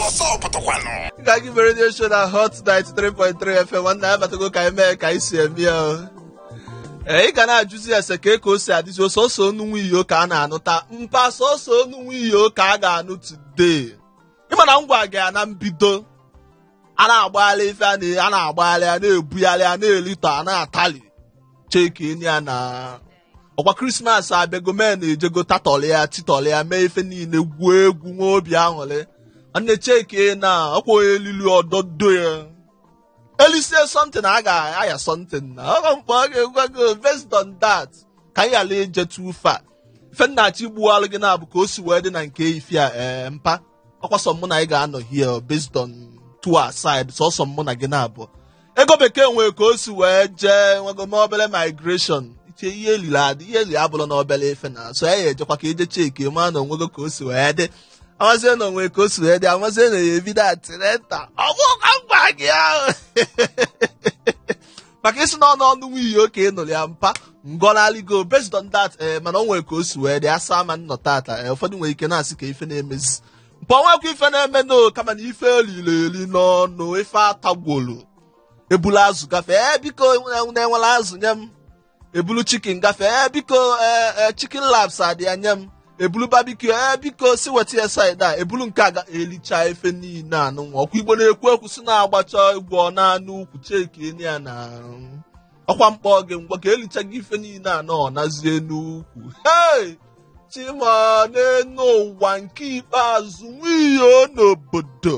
Nganga Igbo redio show na Hot 93.3 FM nwanne ya batago ka anyị mee ka anyị si eme ya o. Ee, ị ga na-ajụzi ese kee ka o si adịzi o sọsọ onu nwa iyo ka a na-anụta mpa sọsọ onu nwa iyo ka a ga-anụ today. Ịma na m gwa gị ya na mbido a na-agbagharị ife a na- a na-agbagharị a na-ebugharị a na-elito a na-atali cheki enyi ya na ọkwa krismas abịago men ejego tatọlị ya titọlị ya mee ife niile gwuo egwu nwee obi aṅụrị nwanne cheki na ọkwa onye elili ọdọdo ya elisie something a ga-aya something na ọkwa m kpọ gị m gwa gị based on that ka anyị ghara ije too far ife m na-achọ igbuwalụ gị na-abụ ka o si wee dị na nke ife a ee mpa ọkwa sọ mụ na gị ga-anọ here based on two aside sọsọ mụ na gị na-abụ ego bekee nwere ka o si wee jee nwego n'obere migration iche ihe eliri adị ihe eliri abụrụ na obele ife na-eso ya ejekwa ka eje cheki ma na onwego ka o si wee dị amazie na onwere ka o si wee dị amazie na ya ebido atireta ọ bụ ka m gwa gị ahụ maka ịsị na onu onu nwa iyo ka ị nụrụ ya mpa ngọnalịgo based on that ee mana o nwere ka o si wee dị asa ma-anọ tata ee ụfọdụ nwere ike na-asị kee ife na-emezi mpa onwekwa ife na-eme no kama na ife elili eli n'ọnụ ife atagwolu ebulu azụ gafee ee biko nne wele azụ nye m ebulu chicken gafee ee biko ee chicken laps adị ya nye m ebulu barbecue ee biko si weta ya side a ebulu nke aga elicha ife niile anụnwa ọkwa igbo na-ekwu ekwu si na agbacha egwu ọ naa n'ukwu cheki enyi ya na ọkwa m kpọ gị m gwa gị elichaga ife niile anọ ọ nazie n'ukwu hei chima n'enu ụwa nke ikpeazụ nwa iyo n'obodo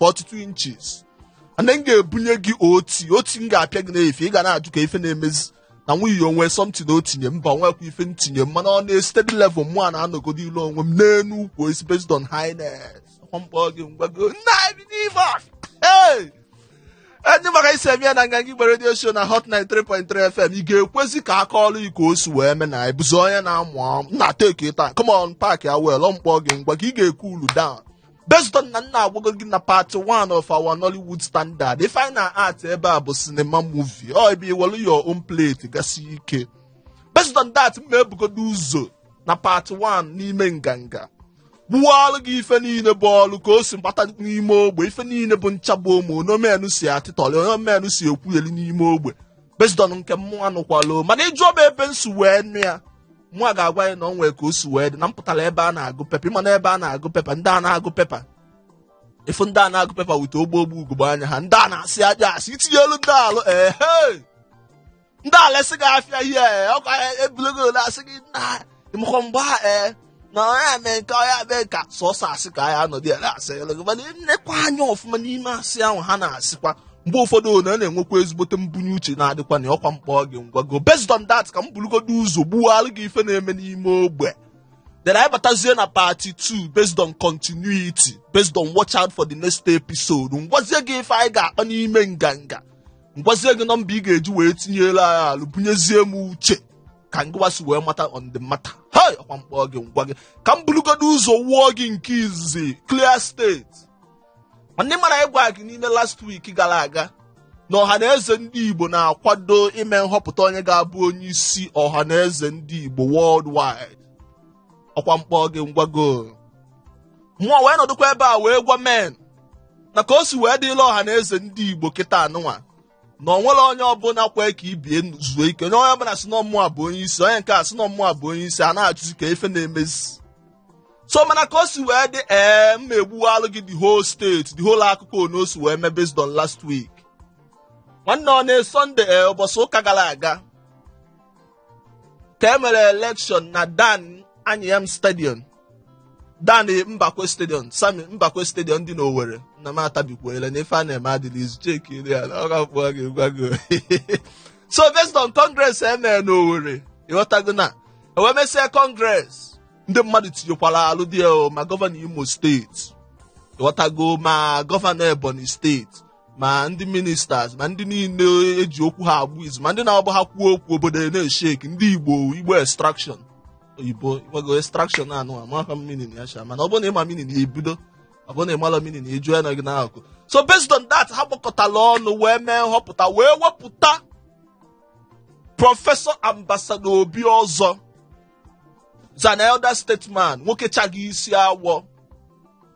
42 inches ana m ga-ebunye gị oti oti m ga-apịa gị n'efe ị ga na-ajụ kee ife na-emezi na nwa iyo onwe something na o tinye mba nwekwa ife ntinye mana ọ na steady level mụ a na-anọgodolu onwe m n'enu ukwu isi based on highness m kpọ gị m gwa gị nna bi n'ime ee enyi ma ka esi eme ya na nganga igbo redio show na hot 93.3 fm ị ga-ekwezi ka aka ọrụ iko o si wee mee na anyị bụzi onye na-amụ amụ na teki taa come on park ya well ọ m kpọ gị m gwa gị ị ga-ecoolu down based on na nna agwago gị na part 1 of our Nollywood standard ife anyị na-act ebe a bụ cinema movie ọ ebe iwelu your own plate gasị ike based on that mụ a ebugodo ụzọ na part 1 n'ime nganga gbuwalụ gị ife niile bụ ọlụ ka o si gbata n'ime ogbe ife niile bụ nchagbu ụmụ onomenụ si atịtọrị onomenụ si ekwugheri n'ime ogbe based on nke mmụọ anụkwalụ mana ị jụọ m ebe m si wee nụ ya mụ a ga-agwa gị na ọ nwere ka o si wee dị na m pụtara ebe a na-agụ pepa ịma na ebe a na-agụ pepa ndị a na-agụ pepa ịfụ ndị a na-agụ pepa wete ogbo ogbo ugogbe anya ha ndị a na-asị ajọ asị i tinyelu ndị a olu ehe ndị a elesị gị afịa ihe ọkwa ebulego ole asị gị na ịmakwa mgbe a ee na ọ ya mee nke ọ ya mee ka sọsọ asị ka anyị anọdụ ya na-asị gị mana nnekwa anya ọfụma n'ime asị ahụ ha na-asịkwa mgbe ụfọdụ ọ na na-enwekwa ezigbote mbunye uche na-adịkwa na ọkwa mkpọ gị ngwa go based on that ka m burugodo ụzọ gbuwalụ gị ife na-eme n'ime ogbe then anyị batazie na part 2 based on continuity based on watch out for the next episode ngwazie gị ife anyị ga-akpa n'ime nganga ngwazie gị nọmba ị ga-eji wee tinyelu anyị alụ bunyezie m uche ka ngịwa si wee mata on the matter hei ọkwa mkpọ gị ngwa gị ka m burugodo ụzọ wụọ gị nke izizi clear state ndị mara anyị gwara gị n'ime last week gara aga na ọhaneze ndị igbo na-akwado ime nhọpụta onye ga-abụ onye isi ọhaneze ndị igbo worldwide ọkwa mkpọ gị ngwa go mụọ wee nọdụkwa ebe a wee gwa men na ka o si wee dịla ọhaneze ndị igbo kịta anụnwa na o nwere onye ọbụla kwee ka ibie zuo ike onye onye ọbụla sị na mụwa bụ onye isi onye nke a sị na mụwa bụ onye isi a na-achụzi kee ife na-emezi so mana ka o si wee dị ee m ma-egbuwalụ gị the whole state the whole akụkọ one o si wee mee based on last week nwanne ọ na sunday ee ụbọchị ụka gara aga ka e mere election na dan anyịam stadium dan mbakwe stadium sami mbakwe stadium dị n'owere na m atabikwuola na ife a na-eme adịla izu cheki iri ya na ọ ga-akpọ gị gwa gị so based on congress e mere n'owere ị ghọtago na e wee mesịa congress ndị mmadụ tinyekwara alụ dị ya o, ma gọvanọ imo state ị ghọtago ma gọvanọ ebonyi state ma ndị ministers ma ndị niile e ji okwu ha agba izu ma ndị na-abụ ha kwuo okwu obodo na-esheki ndị igbo igbo extraction oyibo igbago extraction anụ amaghị m meaning ya sha mana ọ bụrụ na ị ma meaning ya ebido ọ bụrụ na ị mala meaning ya ejuo ya na gị n'akụ so based on that ha gbakọtala ọnụ wee mee nhọpụta wee wepụta prọfesọ ambasado obiozor is an elder statesman nwoke chaghị isi awọ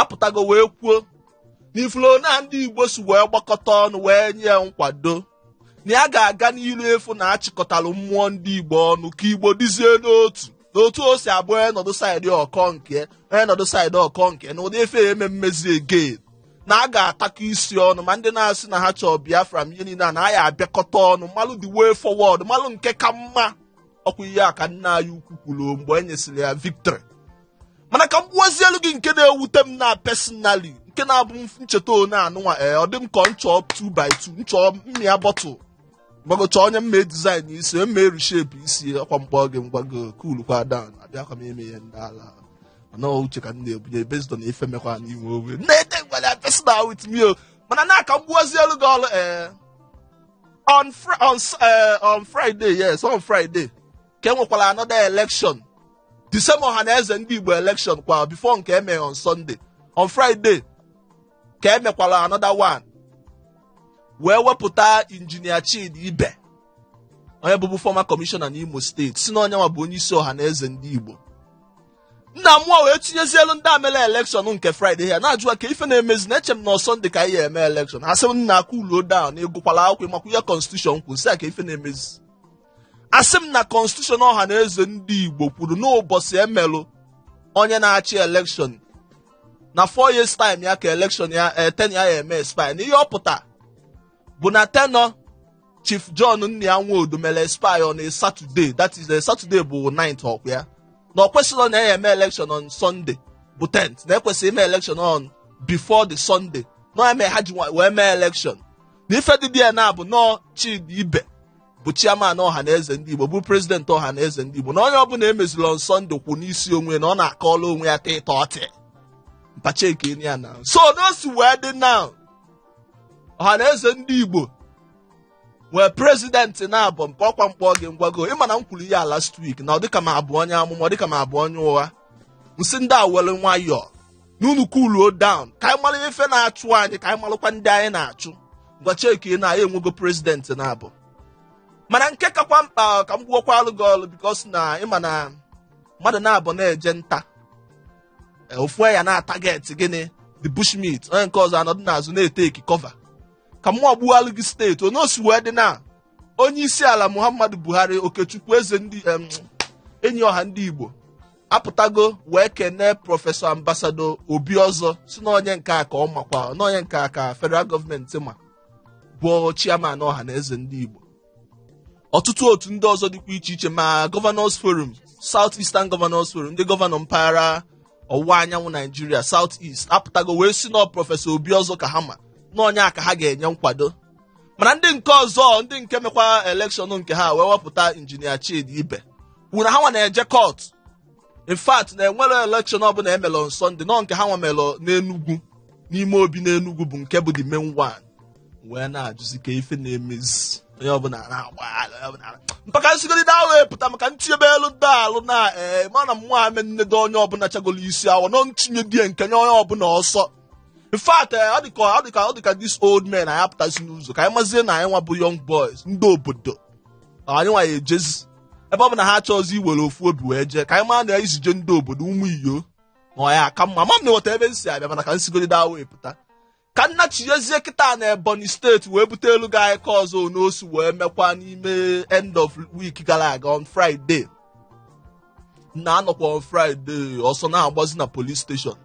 apụtago wee kwuo na ị fụrụ na ndị igbo si wee gbakọta ọnụ wee nye nkwado na ya ga-aga n'ilu ịfụ na a chịkọtara mmụọ ndị igbo ọnụ ka igbo dịzie n'otu n'otu o si abụ ọ nọdụ side ọ kọọ nke ọ nọdụ side ọ kọọ nke na ụdị ife ama emezi again na a ga-atakọ isi ọnụ ma ndị na-asị na ha chọọ biafra ma ihe niile a na a ya abịakọta ọnụ malụ the way forward malụ nke ka mma ọkwa ihe a ka nna anyị ukwu kwuru mgbe e nyesịrị ya victory mana ka m gbuozielu gị nke na-ewute m na personally nke na-abụ m cheta one anụnwa ee ọ dị m ka m chọọ 2 by 2 m chọọ mmịa bottle m gbago chọọ onye m ma design isi onye m ma-ereshape isi ọkwa mkpọ gị ngwago coolukwa down abịakwa m eme ihe ndị ala mana ọ uche ka m na-ebunye based on ife mekwa na inwe owe na-ede ngwale personal with me o mana na ka m gbuozielu gị ọrụ ee on Fri- on s- eh, on friday yes on friday ka e nwekwara another election the same ọha na eze ndị igbo election kwa before nke eme on sunday on friday ka emekwara another one wee wepụta injinia chidi ibe onye bụbu former commissioner n'imo steeti sị na onye nwa bụ onye isi ọha na eze ndị igbo nna mmụọ wee tinyezielu ndị a melu election nke friday ya na-ajụwa ka ife na-emezi na eche m na ọ sunday ka anyị eme election asị m nna cool down ịgụkwala akwụkwọ ịmakwa ihe constitution kwuru m sị a ka ife na-emezi asị m na constitution ọha na eze ndị Igbo kwuru n'ụbọchị emelụ onye na-achị election na four years time ya ka election ya eh, tenure ya ya eme expire na ihe ọ pụta bụ na tenure Chief John Nnia Nwodo mere expire on a Saturday that is a eh, Saturday bụ 9th ọkwa ya na ọ kwesịrị na ya eme election on Sunday bụ 10th na ekwesịrị ime election on before the Sunday na eme ha ji wee mee election na ife dị dị ya na abụ na ọ Chidi Ibe bụ chairman ọha na eze ndị Igbo bụ president ọha na eze ndị Igbo na onye ọbụla emeziri on Sunday kwụ n'isi onwe na ọ na-akọla onwe ya ta ịta ọtị mpache nke enyi ya na so na o si wee dị now ọha na eze ndị Igbo nwee president naabọ ọkwa mkpọ gị ngwago ịma na m kwuru ya last week na ọ dịka m abụ onye amụma ọ dịka m abụ onye ụgha m sị ndị a were nwayọọ na unu cooluo down ka anyị mara ife na-achụ anyị ka anyị marakwa ndị anyị na-achụ ngwa cheki na anyị enwego president naabọ mana nke kakwa mkpa ka m gbuokwalụ gị ọlụ because na ịma na mmadụ naabọ na-eje nta e, ofu ya na-ataget gịnị the bushmeat onye nke ọzọ anọdụ n'azụ na-eteki cover ka mụ gbuwalụ gị straight onye o si wee dị now onye isi ala muhammadu buhari okechukwu eze ndị em, enyi ọha ndị igbo apụtago wee kenee prọfesọ ambasado obiozor sị na onye nke a ka ọ makwa na onye nke a ka federal gọọmenti ma bụ chairman ọha na eze ndị igbo ọtụtụ otu ndị ọzọ dịkwa iche iche ma governors forum south eastern governors forum ndị gọvanọ mpaghara ọwụwa anyanwụ naijiria south east apụtago wee sị na ọ prọfesọ obiozor ka ha ma na onye a ka ha ga-enye nkwado mana ndị nke ọzọ ndị nke mekwa election nke ha wee wepụta injinia Chidi Ibe kwuru na ha nwa na-eje court in fact na enwerọ election ọbụla emelụ on Sunday na ọ nke ha nwa melụ n'Enugwu n'ime obi n'Enugwu bụ nke bụ the main one wee na-ajụzi ka ife na-emezi onye ọbụla na-agbagharị onye ọbụla na- mpaka nsigoro na ahụ epụta maka ntinyebe elu ndị alụ na ee mana mmụọ ame nnedo onye ọbụla chagolo isi awọ nọ ntinye dye nke nye onye ọbụla ọsọ in fact eh, ọ dịka ọ dịka ọ dịka this old men anyị apụtazi n'ụzọ ka anyị mazie na anyị nwa bụ young boys ndị obodo anyị nwa ya ejezi ebe ọ bụ na ha chọọzi iwere ofu obi wee jee ka anyị maa na isi jee ndị obodo ụmụ iyo na ọ ya aka mma ma m na-eweta ebe m si abịa mana ka m sigodi there wee pụta ka nna chiezie kịta na ebonyi state wee butelu gị anyị ka ọzọ n'osi wee mekwa n'ime end of week gara aga on friday na anọkwa on friday ọsọ na-agbazi na police station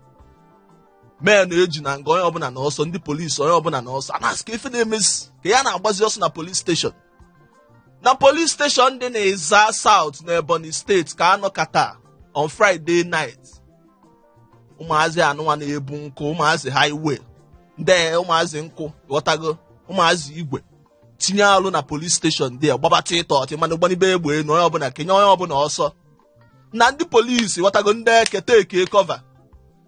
men eji na nga onye ọbụla na ọsọ ndị polisi onye ọbụla na ọsọ a na-asị kee ife na-emezi ka ya na-agbazi ọsọ na police station na police station dị na Ezza South na Ebonyi state ka anọkata on Friday night ụmụazị anụnwa na-ebu nkụ ụmụazị highway ndị ụmụazị nkụ ghọtago ụmụazị igwe tinye alụ na police station ndị a gbabata ịtọ ọtị mana gbanibe egbe enu onye ọbụla kenye onye ọbụla ọsọ na ndị polisi ghọtago ndị eke take cover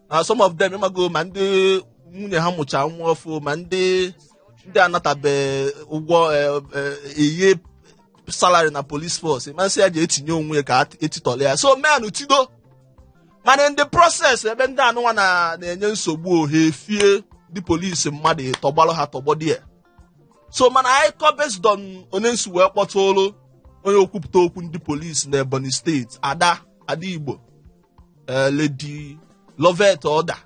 na some of them ịmago ma ndị nwunye ha mụcha nwa ọfụ ma ndị ndị anatabe ụgwọ eye salary na police force masị ya ji etinye onwe ya ka etitọla ya so men tido mana in the process ebe ndị anụnwa na-enye nsogbu o ha fie ndị polisi mmadụ ịtọ gbalụ ha tọgbọ there so mana anyị kọ based on onye m si wee kpọtụrụ onye okwupụta okwu ndị polisi na ebonyi state ada ada igbo eh, lady loveth odah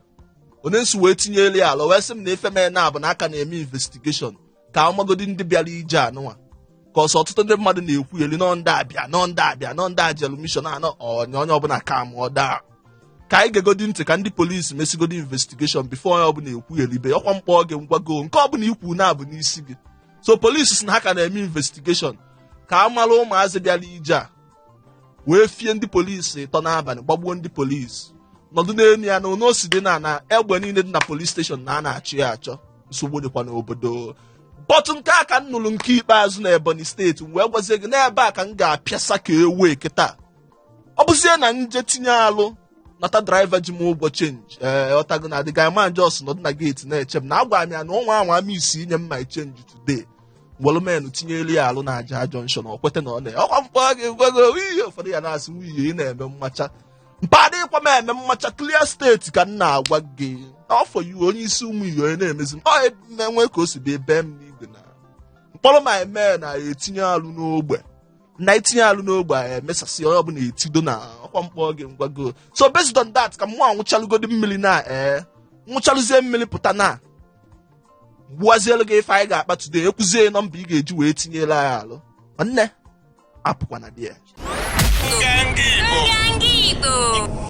onye m si wee tinyere ya alụ wee sị m na ife mee na abụ na a ka na-eme investigation ka amagodi ndị bịara ije anụnwa ka ọsọ ọtụtụ ndị mmadụ na-ekwu elu nọ ndị abịa nọ ndị abịa nọ ndị a jelu mission anụnwa onye ọbụla calmụọ down ka anyị gegodi ntị ka ndị polisi mesigodi investigation before onye ọbụla ekwu elibe ọkwa mkpọ gị ngwago nke ọbụla i kwu na-abụ n'isi gị so polisi sị na ha ka na-eme investigation ka a mara ụmụazị bịara ije a wee fie ndị polisi ịtọ n'abalị gbagbuo ndị polisi nọdụ n'elu ya na ono si dị na na egbe niile dị na police station na a na-achọ ya achọ nsogbu dịkwa n'obodo but nke a ka m nụrụ nke ikpeazụ na ebonyi state wee gwazie gị n'ebe a ka m ga-apịasa ka ewee kịta ọ bụzie na m je tinye alụ nata driver ji m ụgwọ chenji ee eh, ghọtago na the guy man just nọdụ na gate na-eche m na agwara m ya na ọ nwa anwa ma isi inye m my chenji today welụ men tinyelu ya alụ na aja junction ọ kweta na ọ na ọkwa mkpọ gị ngwago ihe ụfọdụ ya na-asị nwunye ị na-eme mmacha mba adịkwa m eme mmacha clear steeti ka m na-agwa gị n'afọ iwe onye isi ụmụ iyo onye na-emezi m ọ na-enwe ka o si dị ebe m n'igwe na mkpọrọ ma eme na etinye alụ n'ogbe na itinye alụ n'ogbe a emesasị onye ọbụla etido na ọkwa mkpọ gị ngwago so based on that ka mụ nwụchalụgodi mmiri na ee nwụchalụzie mmiri pụta na gbuwazielu gị ife anyị ga-akpa today ekwuzie nọmba ị ga-eji wee tinyere anyị alụ nwanne apụkwana di ya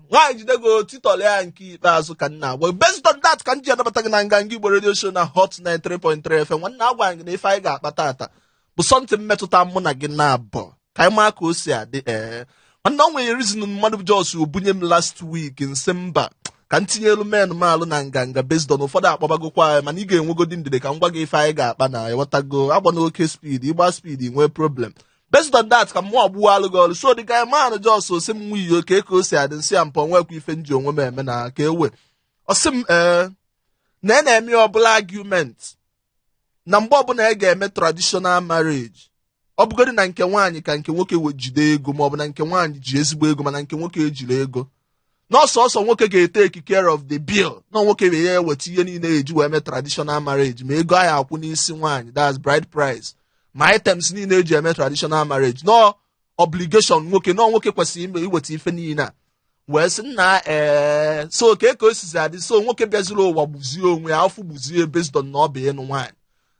nwaanyị jidego title ya nke ikpeazụ ka m na-agwa based on that ka m ji anabata gị na nganga igbo radio show na hot 93.3 fm nwanne agwa gị na ife anyị ga-akpa taata bụ something metụta mụ na gị naabọ ka anyị maa ka o si adị ee mana o nwere reason mmadụ just bunye m last week m sị mba ka m tinyelu men m alụ na nganga based on ụfọdụ akpabagokwa anyị mana ị ga-enwegodi ndidi ka m gwa gị ife anyị ga-akpa na ị ghọtago agba n'oke speed ị gba speed nwee problem based on that ka mụ ọgbụwa alụ gị ọrụ so dị ka man just sị m nwa iyo ka ka o si adị m sị ya mpọ nwekwa ife m ji onwe m eme na ka ewe ọ sị m ee na ị na-eme obele argument na mgbe ọbụla a ga-eme traditional marriage ọ bụgodị na nke nwaanyị ka nke nwoke wee jide ego ma ọ bụ na nke nwaanyị ji ezigbo ego mana nke nwoke ejirọ ego na ọ sọọsọ nwoke ga-etake care of the bill na nwoke wee ya eweta ihe niile e ji wee mee traditional marriage ma ego ahụ akwụ n'isi nwaanyị that's bride price ma items niile e ji eme traditional marriage na ọ obligation nwoke na nwoke kwesịrị iweta ife niile a wee sị nna ee so ka eke o sizi adị so nwoke bịaziri ụwa gbuzie onwe ya afọ gbuzie based on na ọ bụ ịnụ nwaanyị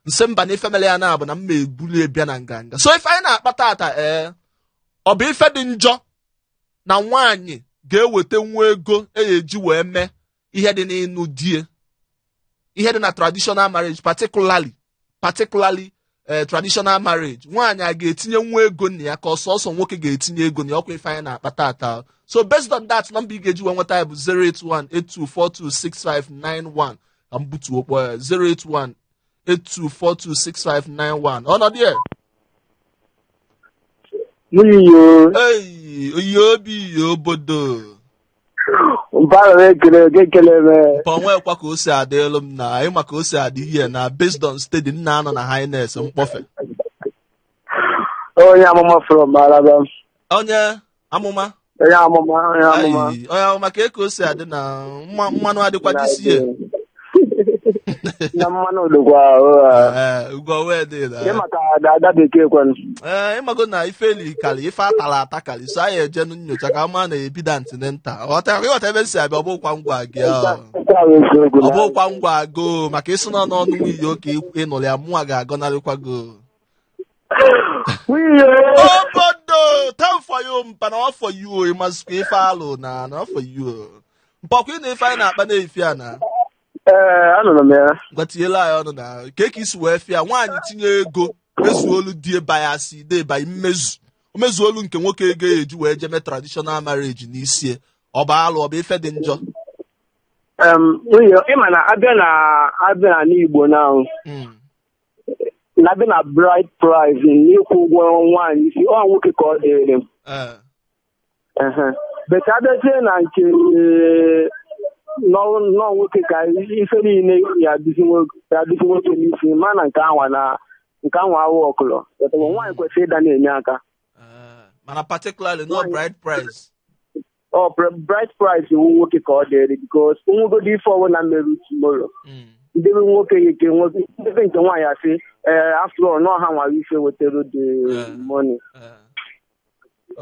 m sị mba na ife mere ya na-abụ na mma ebulu ya bịa na nganga so ife anyị na-akpa taata ee ọ bụ ife dị njọ na nwaanyị ga-eweta nwa ego e ji wee mee ihe dị n'ịnụ die ihe dị na traditional marriage particularly particularly eh, traditional marriage nwaanyị a ga-etinye nwa ego na ya ka ọ sọọsọ nwoke ga-etinye ego na ya ọ kwa ife anyị na-akpa taata so based on that nọmba ị ga-eji wee nweta ya bụ 08182426591 ka m butuo kpọọ ya 08182426591 ọnọdụ ya N'iyo, eyi oyi obi obodo Mpa m ekele gị ekele m. ka o nwekwa ka o si adịlụ m na ị ma ka o si adị ihe na based on steady m na-anọ na highness mkpọfe Onye amụma from Alaba. onye amụma Onye amụma onye amụma. Ayi, onye amụma ka eke o si adị na mma- mmanụ adịkwa dịsie na mmanụ odogwa Ee, ugwo wee dị na- ịmaka ada bekee kwanụ Ee, ị mago na ife eli karị ife a tara ata karị so anyị eje nyocha ka ma na ebido antinenta ghọta ị ghọta ebe m si abịa ọ bụkwa m gwa gị ahụ. ọ bụkwa m gwa gị maka ị sị na n'ọnụ nwunye oke ịnụrụ ya mụnwa ga-agọnarịkwa gị Nwunye obodo time for you mpa na ọ for you o ị mazikwa ife alụ na na ọ for you o mpọkwa ị na ife anyị na-akpa n'efifie a na ee anụrụ m ya ngwa tinyelụ anyị ọnụ na ka ka i si wee fụ ya nwaanyị tinye ego mezuolu di e bayasị thereby mmezu o mezuolu nke nwoke ego ya eji wee jeme traditional marriage n'isi e ọ bụ alụ ọ bụ ife dị njọ Em, nwunye ị ma na a bịa na a bịa na n'Igbo na Mm. na a bịa na bride price n'ịkwụ ụgwọ nwaanyị isi ọ nwoke ka ọ dịrị m Ee. Ehe. but a bịazie na nke eh, nọ- nọ nwoke ka ife niile ya adịzi nwo- ya adịzi nwoke n'isi mana nke anwa na nke anwa awụ ọkụlọ But nwaanyị kwesịrị ịda na-enye aka Ee. mana particularly na bride price ọ bride price wụ nwoke ka ọ dịrị because o nwegodi ife ọbụla meru tomorrow hmm. nde be nwoke ya ike nwoke nde be nke nwaanyị asị ee after all nọ ha nwara ife wetara the eh. money eh.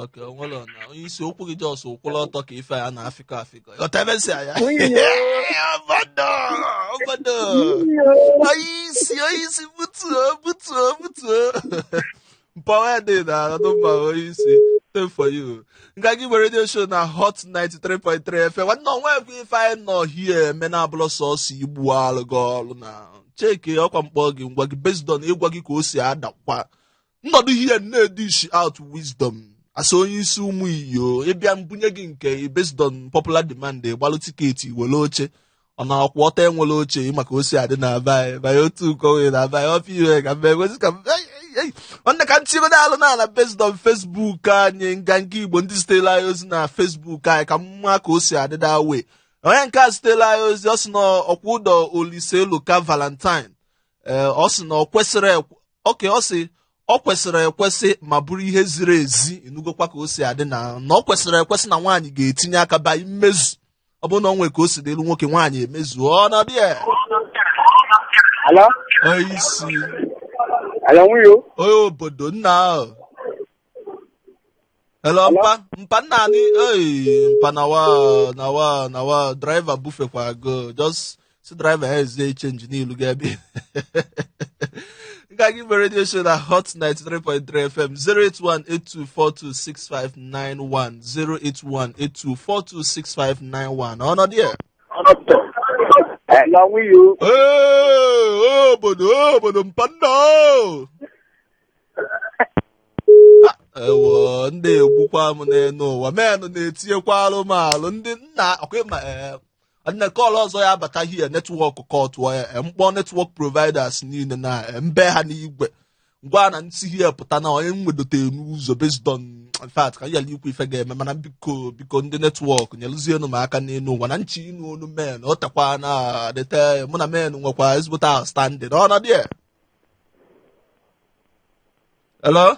okay o nwere na onye isi okwu gị just kwụrụ ọtọ ka ife a na-afịkọ afịkọ ọtabesi anya obodo obodo onye isi onye isi butuo butuo butuo Mpawa dị na Anambra onye isi. Time for you. Nganga Igbo radio show na Hot 93.3 FM. Nwanne o nwekwa ife anyị nọ here eme na abụlọ sọsọ igbu alụ gị ọrụ na check ọkwa m kpọọ gị m gwa gị based on ịgwa gị ka o si adakwa. M nọdụ here na-edish out wisdom. Asa onye isi ụmụ iyo ị bịa m bunye gị nke based on popular demand gbalụ ticket were oche. ọ na-akwụ ọtọ e nwere oche ị ma ka o si adị na be anyị banye otu ụkọ nwere na be anyị ọfịa ihe ka mbe gosi ka mbe ei, ei, ei. nwanne ka m tigodo alụ n'ala based on Facebook anyị Nganga Igbo ndị zitere anyị ozi na Facebook anyị ka m ma ka o si adị that way onye nke a zitere anyị ozi ọ sị na ọkwa Udo Oliseloka Valentine ee ọ sị na ọ kwesịrị ekwe- okay ọ sị ọ kwesịrị ekwesị ma bụrụ ihe ziri ezi ị nụgokwa ka o si adị na na ọ kwesịrị ekwesị na nwaanyị ga-etinye aka ba mmezu ọ bụrụ na o nwere ka o si dịrị nwoke nwaanyị emezuo on the air Hello? onye isi Hello, ọ wụ onye o? onye obodo nna ahụ hello mpa mpa nna anyị ei mpa nawa nawa nawa driver bufekwa go just sị driver ya ezie change n'ilu ga ebe Nganga Igbo radio show na hot 93.3 fm 08182426591 08182426591 on the air Hello who are you? Ee, obodo obodo mpanna o. ewo ndị a egbukwa m n'elu ụwa menụ na-etinyekwalụ m alụ ndị nna ọkwa ị ma ee, na call ọzọ ya abata here network cutụọ ya eh, m kpọọ network providers niile na eh, mbe ha n'igwe m gwa na m si here pụta na onye m wedote n'ụzọ based on in fact ka yala ikwu ife ga-eme mana biko biko ndị network nyelụzienụ m aka n'elu ụwa na m chọ ịnụ onu men o tekwana deta mụ na men nwekwa ezigbote outstanding on the air hello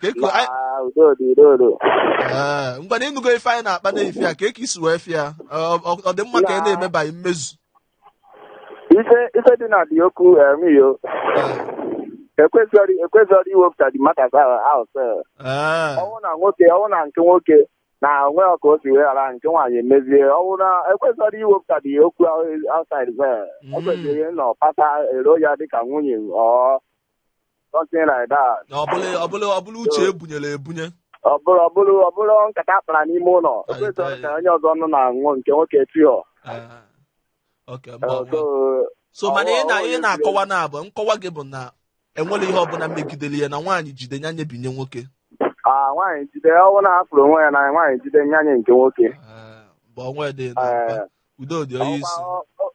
ka eku anyị- Ma udo dị udo dị. Ee, ngwanụ ịnụgo ife anyị na-akpa n'efifie a kee ka i si wee fụ ya ọ ọ- ọ dị mma ka ị na-emebaghị mmezu Ife ife dị na dị okwu emiyo. Ekwesịrị ekwesịrị iwepụtadị matter ahụ sef. Ee, ọ bụrụ na nwoke ọ bụrụ na nke nwoke na onwe ya ka o si wee ghara nke nwaanyị emezie ọ bụrụ na ekwesịrị iwepụtadị okwu outside sef. Mm. Ekwesịrị ịnọ pata ero ya dịka nwunye or something like that. Na ọ bụrọ ọ bụrọ ọ bụrọ uche e bunyere ebunye. Ọ bụrụ ọ bụrụ ọ bụrụ nkata a kpara n'ime ụlọ. O Anyị kwesịrị taa- ka onye ọzọ nọ na-anụ nke nwoke tihọ. Ah, Okay, mgbe ọbụla. So, so mana ị na ọ- ọ- ị na-akọwa na abụ nkọwa gị bụ na enwerọ ihe ọbụla megidere ya na nwaanyị jide ya nye binye nwoke ah, nwaanyị jide ọ bụrụ na a fụrụ onwe ya na nwaanyị jide nya nye nke nwoke. Ah, mgbe ọnwa dị na Eh, udo dị onye isi ọkwa- ọ- ọ-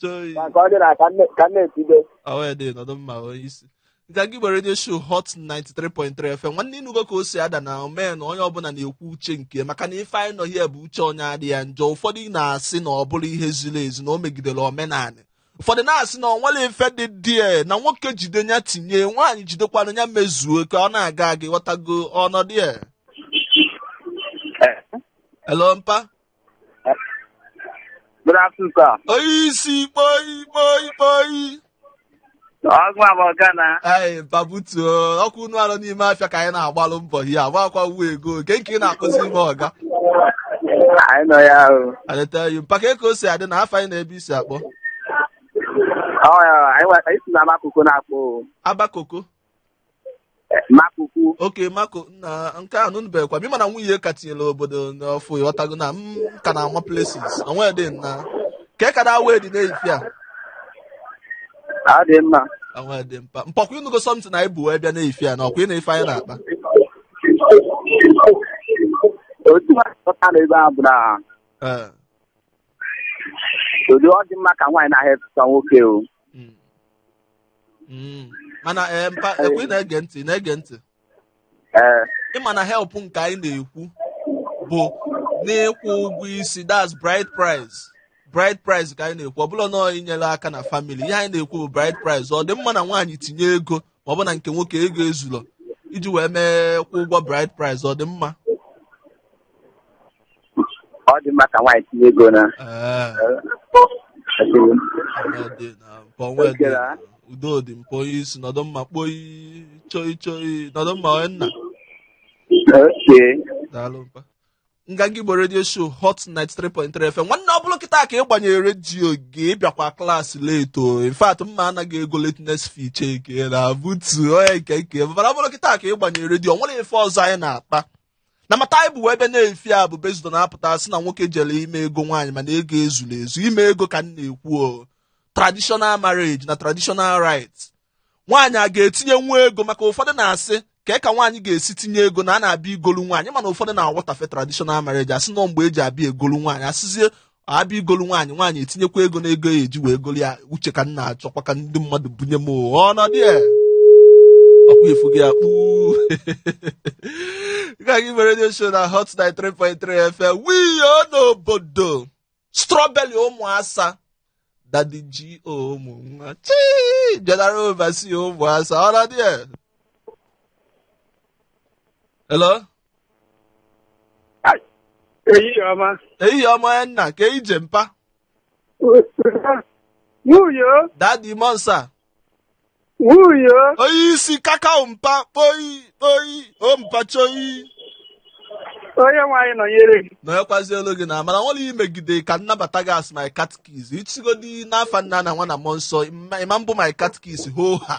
Choi. ka nke ọ dị na ka nne- ka nne etibe Awe dị nọdụ mma onye isi. Nke gị gbara redio show Hot 93.3 FM. Nwanne ị nụgo ka o si ada na omee na onye ọbụla na-ekwu uche nke maka na ife anyị nọ here bụ uche onye adị ya njọ. Ụfọdụ na-asị na ọ bụrọ ihe ziri ezi na o megidere omenala. Ụfọdụ na-asị na o nwerọ ife dị ya na nwoke jide ya tinye nwaanyị jidekwanụ ya mezuo ka ọ na-aga aga ị ghọtago ọnọdụ ya. Hello mpa. Good afternoon, sir. Onye isi kpoi kpoi kpoi. Ọgụ abụ ọga na Ee, pabutuo ọkwa unu nọ n'ime afịa ka anyị na-agbalụ mbọ ihe agbakwa uwe ego nke nke ị na-akpọzi m ọga anyị nọ ya ahụ. alright mpa kee ka o si adị na afa gị na ebe i si akpọ Ọ ya anyị wa- anyị si na Makoko na-akpọ o. Abakoko Makoko. Okay Makoko na nke a nụnụbekwa m ị ma na nwunye ka tinyere obodo n'ọfụụ ị ghọtago na m ka na-ama places na nwee dị na ka e kada wee dị n'efifie a Ọ dị mma. na nwee dị mpa mpọkwa ị nụgo something anyị bu wee bịa n'efifie a na ọkwa ị nụ ife anyị na-akpa Otu nwaanyị pụta n'ebe a bụ na Ee, ụdị ọ dị mma ka nwaanyị na-ahelp efesa nwoke o. Mm. mana ee mpa ọkwa ị na-ege ntị na-ege ntị ee ị ma na help nke anyị na-ekwu bụ n'ịkwụ ụgwọ isi that's bride price bride price ka anyị na-ekwu ọ bụrọ na inyere aka na family ihe anyị na-ekwu bụ bride price ọ dị mma na nwaanyị tinye ego ma ọ bụ na nke nwoke ego ezurọ iji wee mee kwụ ụgwọ bride price ọ dị mma ọ dị mma ka nwaanyị tinye ego na Ee, adịghị m. ọnọdụ na mpọ nwee dị Ekele, ah. udo dị mpa onye isi nọdụ mma kpoyi choi choi nọdụ mma onye nna okay daalụ mpa nganga igbo redio show hot 93.3 fm nwanne ọ bụrụ kịta ka ị gbanyere redio gị ị bịakwa klaasị late o in fact m ma-ana gị ego lateness fee cheke na butu onye nke nke mana ọ bụrụ kịta ka ị gbanyere redio o nwere ife ọzọ anyị na-akpa na matter anyị bu wee bịa n'efifie a bụ based on a pụta sị na nwoke jere ime ego nwaanyị mana ego ezula ezu ime ego ka m na-ekwu traditional marriage na traditional rite nwaanyị a ga-etinyenwu ego maka ụfọdụ na-asị ka ka nwaanyị ga-esi tinye ego na a na-abịa igolu nwaanyị mana ụfọdụ na-awọtafe traditional marriage asị na ọ mgbe eji abịa egolu nwaanyị asịzie abịa igolu nwaanyị nwaanyị etinyekwa ego na ego ya eji wee golu ya uche ka m na-achọkwa ka ndị mmadụ bunye m ọnọdụ ya ọkwa efu gị ya kpuu gaghị mere redio show na hot 93.3 fm wiyo n'obodo strawberry ụmụ asa daddy g o mụ nwa chi general overseer ụmụ asa ọnọdụ ya hello ehihie ọma ehihie ọma onye nna kee ije mpa wiyo daddy ụmụ asa wiyo onye isi kakao mpa kpoyi kpoyi o mpa choyi onye nwaanyị nọnyere gị na ekwazi olu gị na amara nwere imegide ka m nabata gị as my catechist ị sịgodị n'afa nna na nwa na mmụọ nsọ ị ma-abụ my catechist ho ha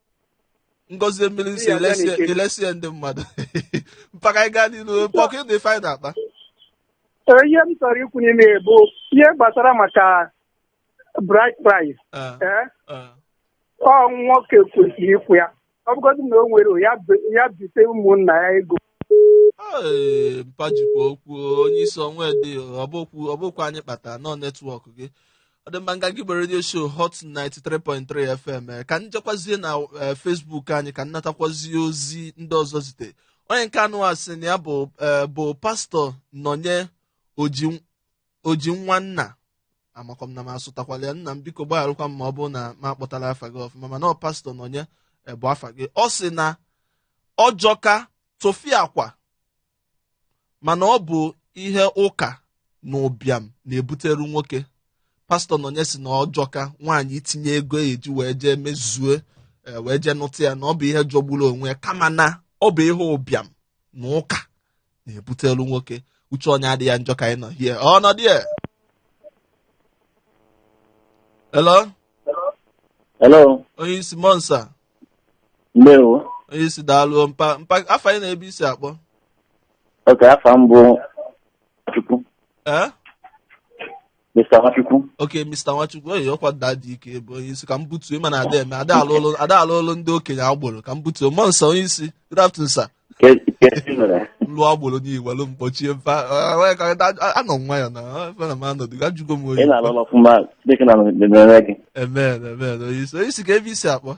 ngọzie mmiri sị elesie ndị mmadụ mpa ka anyị gaa n'iru mpa ọkwa ị nụ ife anyị na-akpa ihe m chọrọ ikwu n'ime bụ ihe gbasara maka bride price ọ nwoke kwesịrị ịkwụ ya ọ bụgodị na o nwere ya bite ụmụnna ya ego Ee, mpa jikwa okwu onye isi ọnwa dị ọbụkwu ọbụkwa anyị kpata na ọ network gị ọ dị mma nganga igbo redio show hot 93.3 fm eh, ka m jekwazie na eh, facebook anyị ka m natakwazie ozi ndị ọzọ zite onye nke a nụwa sị na ya bụ eh, bụ pastọ nonye oji oji nwanna amakwa m na m asụtakwala ya nna m biko gbagharụkwa m ma ọ bụrụ na m akpọtala afa gị ọfụma mana ọ pastọ nonye eh, bụ afa gị ọ sị na ọ jọka tụfịakwa mana ọ bụ ihe ụka na ụbịam na-ebutere nwoke pastọ nonye sị na ọ jọka nwaanyị itinye ego ya eji wee jee mezue eh, wee jee nụta ya na ọ bụ ihe jọgburu onwe ya kama na ọ bụ ihe ụbịam na ụka na-ebuteru nwoke uche onye adị ya njọ ka anyị nọ hie ọ nọ die hello hello onye isi monsa ndewo onye isi daalụ mpa mpa afa gị na ebe i si akpọ okay afa m bụ Nwachukwu ee Mr. Nwachukwu. Okay, Mr. Nwachukwu, oyi ọkwa nda dị ike bụ onye isi ka m butuo ị ma na a da eme ada alụ ọlụ ada alụ ọlụ ndị okenye agboro ka m butuo monsa onye isi good afternoon sir Ke- ke ezi mere. lụọ agboro n'iwelu m kpọchie mfa ah, wee ka- da- anọ m nwayọ na ah, efe na m anọdụ ga jụgo m Ị oyi na-alụ ọlụ ọfụma Chineke na-emere gị. amen amen onye isi onye isi kee ebe i si akpọ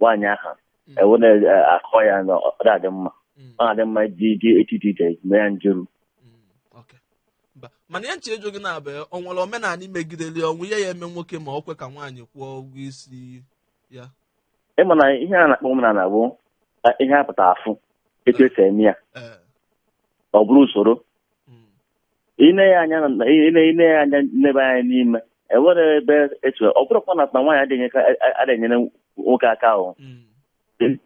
nwaanyị aha Mm. e wee na-akọ ya na ọ na-adị mma Mm. ọ na-adị mma iji iji echiche iche mee ya njeru Mm, okay. Mba, mana ihe m chọ ịjụ gị na-abụ ọ nwere omenala i megideli o nwe ihe ya-eme nwoke ma ọ kwe ka nwaanyị kwụọ ụgwọ isi ya ị ma na ihe a na-akpọ omenala bụ eh, ihe a pụta afụ etu e si eme ya ee ọ bụrụ usoro mm, ine ya anya na- ine ine ya anya n'ebe anyị n'ime enwere ebe etu ọ bụrụkwa na na nwaanyị adịghị ka- a- a- adịghị enyere nwoke aka ahụ Mm.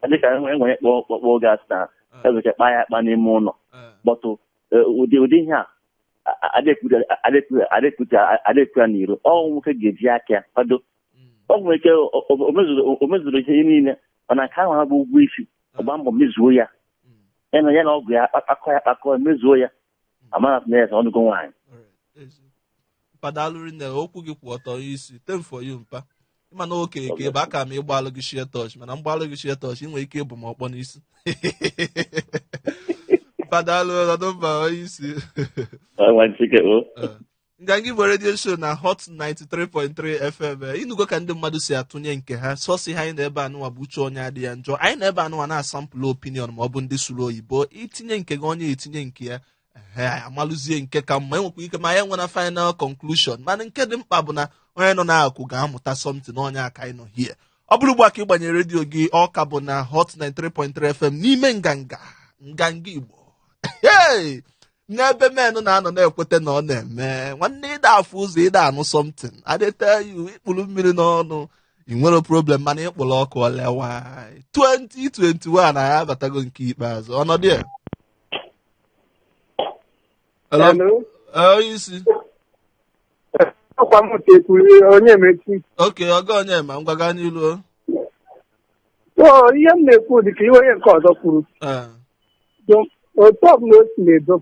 dịka enwere kpọ kpọkpọ oge asị na Ah, ebecha kpa ya akpa n'ime ụlọ ah. but eh, ụdị ụdị ihe a adịkwu ya n'iro ọ nwoke ga-eji aka ya kwado Mm. ọ nwere ike o- o- o mezuru- o mezuru ihe niile mana nke ahụ bụ ụgwọ isi ọ gbaa mbọ mezuo ya Mm. ya na ya na ọgọ ya akpakọ ya akpakọ mezuo ya a mara na yes ọ nụgo nwaanyị mpa daalụ rinne okwu gị kwụ ọtọ isi tem for you mpa ị ma na okenye ka ị bụ aka m ịgbalụ gị shie tọch mana m gbalụ gị shie tọch ị nwere ike igbu m ọkpọ n'isi mpa daalụ ọ dị mma onye isi Ọ nwa nchike o Eh. nganga igbo redio show na hot 93.3 fm eh, ị nụgo ka ndị mmadụ si atụnye nke ha sọsi ha anyị na ebe anụwa bụ uche onye adị ya njọ anyị nọ ebe anụwa na-asampụlụ opinion ma ọ bụ ndị sụrụ oyibo i tinye nke gị onye etinye nke ya ehe anyị amalụzie nke ka mma enwekwa ike ma anyị nwere final conclusion mana nke dị mkpa bụ na onye nọ n'akụkụ ga-amụta something na onye aka anyị nọ hie ọ bụrụ ugbu a ka ị gbanyere redio gị ọ ka bụ na hot 93.3 fm n'ime nganga nganga igbo Hey! n'ebe men na-anọ na-ekweta na ọ na-eme nwanne ị da afụ ụzọ ị da anụ something I tell you ị kpụrụ mmiri n'ọnụ ị nwere problem mana ị kpụrụ ọkụ olewa 2021 anyị abatago nke ikpeazụ ọnọdụ ya Hello? Eh, onye isi ọkwa m tekwuru Onyemaechi okay ọga Onyema ngwa gaa n'ilu o. ihe m na-ekwu dị ka ihe onye nke ọzọ kwuru Eh, Jụ- otu ọbụla o si na-edo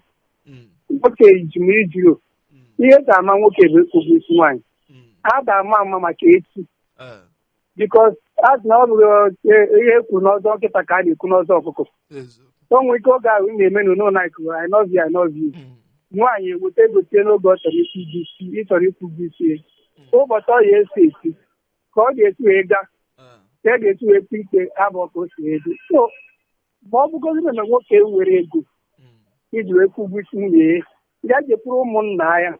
Mm, nwoke iji ma ijiro mm, ihe eji ama nwoke bụ ịkwụ ụgwọ isi nwaanyị mm. a da ama ama maka echi Eh, because a sị na ọ bụghị eh, ihe e kwuru n'ọzọ nkịta ka a na-ekwu n'ọzọ ọkụkọ eziokwu. o nwere ike oge ahụ ị na-eme na ụlọ anyị kụrụ lovey lovey Mm, nwaanyị eweta ego tie n'oge ọ chọrọ ịkwụ ụgwọ isi ị chọrọ ịkwụ ụgwọ isi ya. ụbọchị ọ ya esi esi ka ọ ga-esi wee gaa eh, ka e ga-esi wee kpe ikpe abụọ ka o si edo so ma ọ bụgodị na nwoke nwere ego iji wee kwụ ụgwọ isi nwunye ya ya jekwuru ụmụnna ya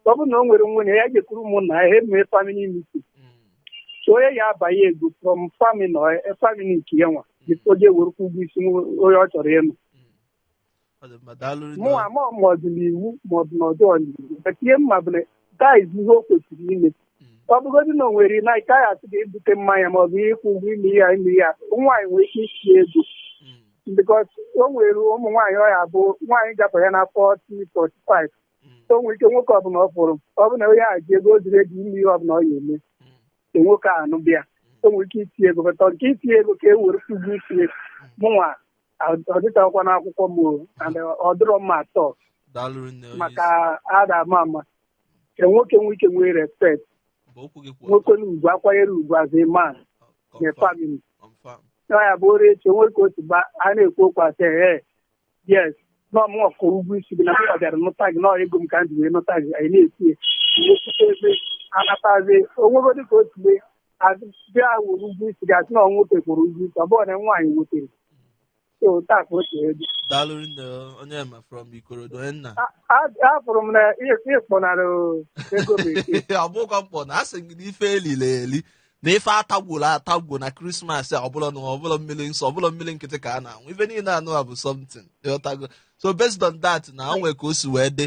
ọ bụrụ na o nwere nwanne ya jekwuru ụmụnna ya ha emee family meeting so onye ya abanye ego from family nke ya nwa before o je were kwụ ụgwọ isi onye ọ chọrọ ịnụ Ọ dị mma, daalụ rinne. mụnwa ma ma ọ dị n'iwu ma ọ bụ na ọ dịrọ n'iwu but ihe m ma bụ na that's ihe o kwesịrị ime Mm. ọ bụgodị na o nwere na ike anyị asị ga-ebute mmanya ma ọ bụ ịkwụ ụgwọ ime ya ime ya nwaanyị nwere ike iti ego Mm. because o nwere ụmụ nwaanyị ọ ya bụ nwaanyị gapụ ya na 40 45 Mm. o nwere ike nwoke ọbụla ọ fụrụ ọ bụ na onye a ji ego ọ dị ready ime ihe ọbụla ọ ya eme Mm. ka nwoke a nụba ya o nwere ike iti ego bata nke iti ego ka e were kwụ ụgwọ isi mụnwa ọ dịtakwa n'akwụkwọ m o, and ọ dịrọ mma at all daalụ nne onye maka isi a da ama ama ka nwoke nwee ike nwee respect mgbe okwu gị kwụ nwoke na ugwu akwanyere ugwu as a man ọtọ na family confirm na ya bụ o ruo echi o nwee ka otu ba a na-ekwu okwu asị ee yes na ọ mụ kwụrụ ụgwọ isi gị na mụ bịara nụta gị na ego m ka m ji wee nụta gị anyị na-eti ya nwekwute ebe anatazi o nwego dịka otu mee bịa kwụrụ ụgwọ isi gị asị na ọ nwoke kwụrụ ụgwọ isi ọ bụrụ na nwaanyị wetere so taa ka o si ebi daalụ nne Onyema from Ikorodu onye nna A- a- afụrụ m na ịkpọnara ego bekee ọ bụkwa mkpọ na asị gị na ife elili eli na ife atagwuru atagwu na krismas a ọbụla na ọ bụrọ mmiri nsọ ọ bụrọ mmiri nkịtị ka a na-aṅụ ife niile a na-aṅụ bụ something ịghọtago so based on that na o nwee ka o si wee dị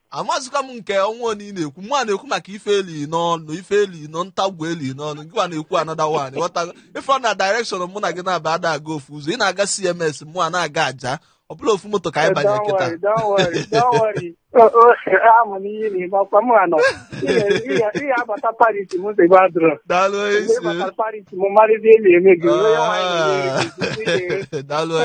amazikwa m nke ọnwa onye ị na-ekwu mụwa na-ekwu maka ife eli n'ọnụ ife eli n'ọnụ tagwu eli n'ọnụ gịwa na-ekwu another one ị ghọtago ị fụ na direction mụ na gị na-aba ada aga ofu ụzọ ị na-aga CMS mụwa na-aga Ajah ọ bụrọ ofu moto ka anyị banye kịta daalụ isi daalụ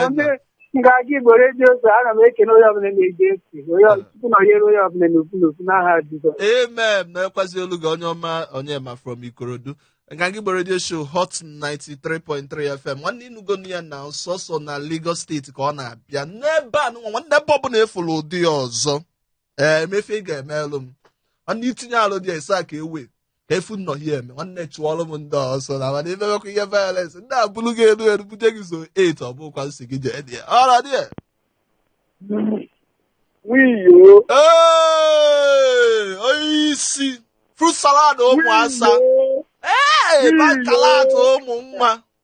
ngaji igbo redio show ana m ekene onye ọbụla na-ege ntị onye ọbụla Chukwu nọnyere onye ọbụla n'ofu n'ofu n'aha jizọs amen na-ekwazi olu gị onye ọma Onyema from Ikorodu ngaji igbo redio show hot 93.3 fm nwanne ị nụgonụ ya na sọsọ na lagos steeti ka ọ na-abịa n'ebe a nụnwa nwanne ebe ọbụla e fụrụ ụdị ya ọzọ ee ma ife ị ga-emelụ m nwanne itinye alụ dị esa ka ewe ka efu n'ọhịa eme nwanne chụọlụ m ndị ọsọ na mana imewekwa ihe violence ndị a buru gị elu elu bute gị so 8 ọ bụkwa m sị gị jee dị ya ọra dị ya wiyo Ee, onye isi fruit salad ụmụ asa ee bakalata ụmụ nwa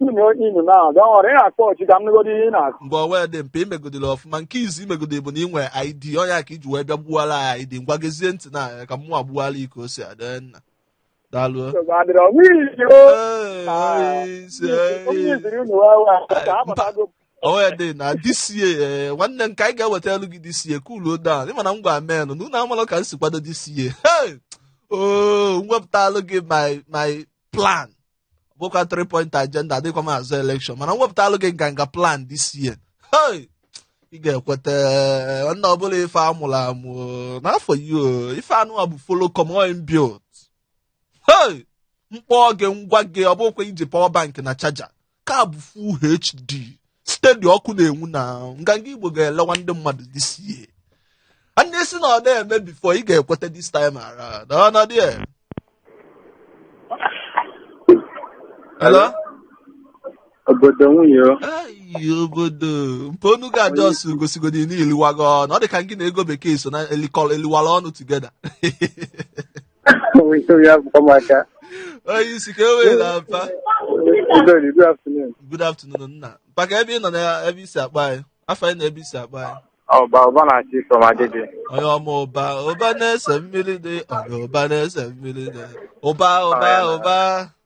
inu na ahụ dọwara ị na-akpọ ọchị ka m nụgodo ihe ị na-akụ mgbe ọ wee dị mpe imegodiri ọfụma nke izu imegodiri bụ na ị nwere id onye a ka iji wee bịa gbuwara ya id ngwa gezie ntị na ya ka mụnwa gbuwara iko o si adị nna daalụ nsogbu adịrọ ọnwụ iji o Ee, ise, onye ee. iziri unu wee wee ka a pụtago onwe dị na dịsie ee, nwanne m ka anyị ga-eweta elu gị dịsie kuluo down ịma na m gwa men na unu amalụ ka m si kwado dịsie Hey! oo m wepụtalụ gị my my plan bụkwa 3 point agenda adịkwa m azọ election mana m wepụtalụ gị nganga plan this year hey! ị ga-ekweta nna ọbụla ife amụrụ amụ n'afọ yi ife anụwa bụ follow come inbuilt hey! m kpọọ gị m gwa gị ọ bụkwa iji power bank na charger ka bụ full HD steady ọkụ na-enwu na nganga igbo ga-elewa ndị mmadụ this year a na-esi na ọ na-eme before ị ga-ekweta this time around ọ nọ dị Hello? obodo nwunye o. Ayi, obodo mpe onu ga-adị ọsụ gosigodi na i liwago ọnụ ọ dị ka gị na ego bekee so na elikọrọ eliwara ọnụ together onye isi ka e were na mpa good afternoon nna mpa ka ebe ị nọ na ebe i si akpọ anyị afa ị na ebe i si akpọ anyị ọba ọba na-achị iso ma dịdị onye ọma ụba ụba na-ese mmiri dị onye ụba na-ese mmiri dị ụba ụba ụba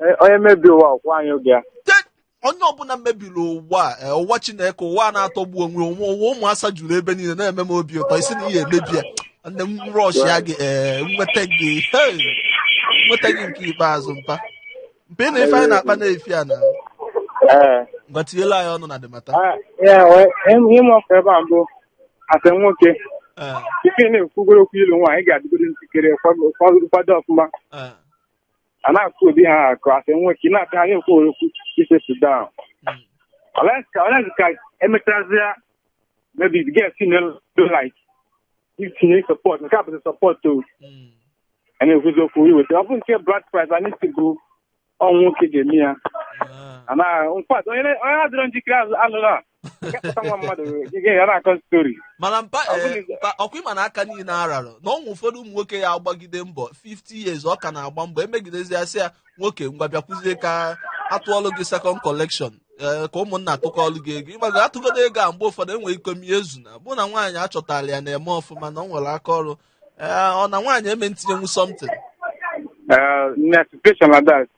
Eh, onye mebi ụwa ọkwụ anyị oge ya Te- onye ọbụla mebiri ụwa a, eh, ụwa chineke ụwa a na-atọgbu onwe onwe ụwa ụmụ asa juru ebe niile na-eme m obi ụtọ ị sị na ị ya-emebi ya nne m rushịa gị ee nweta gị hey, nweta gị nke ikpeazụ mpa mpa ị na ife anyị na-akpa na-efi a na ee ngwa tinyela anyị ọnụ na the matter Ah, ya wee ihe m ọkụ ebe a mbụ a sị nwoke ee tupu ị na-ekwugoro okwu ịlụ nwaanyị ị ga-adịgoro njikere kwado kwado ọfụma ee a na-akụ obi ha akụ a sị nwoke na-ata ha ekwu okwu ị settle down unless ka emechazịa maybe the girl like itinye support nke a bụzi support o a na-ekwuzi okwu iweta ọ bụ nke bride price anyị sị bụ ọnwụ nwoke ga-eme ya nkwa onye adịrọ njikere alụla Nke kpọta nwa mmadụ gị gị ya na-akọ story mana mpa Ọ bụrụ eh, na- mpa- ọkwa ịma na aka niile ararọ na o nwe ụfọdụ ụmụ nwoke ya agbagide mbọ 50 years ọ ka na-agba mbọ emegidezi ya sị ya nwoke ngwa bịakwuzie ka atụọlụ gị second collection eh, ka ụmụnna atụkọọlụ gị ego ịmago atụgodo ego a mgbe ụfọdụ enwere ike ọ mie ezu na ọ bụ na nwaanyị achọtala ya na-eme ọfụma na ọ nwere aka ọrụ Eh, ọ na nwaanyị eme ntinyenwu something na situation like that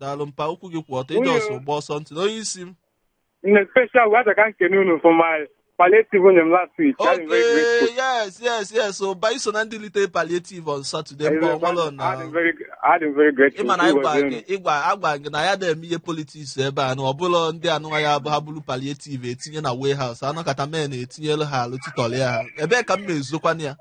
daalụ mpa okwu gị kwụ ọtọ ịdị ọsọ gba ọsọ ntị na onye isi m in a special way ka m kene unu for my palliative unu nye m last week I'm very okay grateful. yes yes yes so ba i so na ndị lite palliative on saturday mba ọmalọ na I'm very, I'm very grateful. ịma na It was ịgwa unu. gị ịgwa agwa gị na anyị adị eme ihe politics ebe a na ọ bụlọ ndị anụwa ya bụ ha buru palliative etinye na warehouse anọkata men etinyelu ha alụ titọlị ha ebee ka m na-ezokwana ya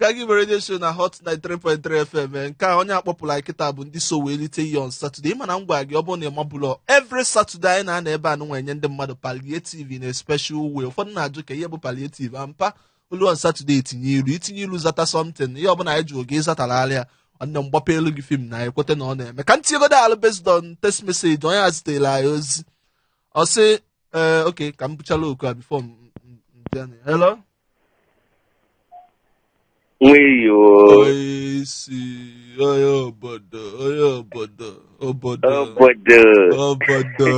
ka gị radio show na hot 93.3 fm eh, nke a onye a kpọpụrụ anyị kịta bụ ndị so wee lite ihe on Saturday ị ma na m gwara gị ọ bụrụ na ịma bụlọ every Saturday anyị na-anọ ebe a nụnwa enye ndị mmadụ palliative in a special way ụfọdụ na-ajụ ka ihe bụ palliative a mpa o lu on Saturday etinye ilu itinye ilu zata something ihe ọbụla anyị jụọ gị ịzatalị ya nwanne m gbapeelu gị film na anyị kweta na ọ na-eme ka m tinyegodo alụ based on text message onye a zitere anyị ozi ọ sị ee okay ka m buchala oku a before m m- m bịa na- hello nweyo onye isi onye obodo onye obodo obodo obodo obodo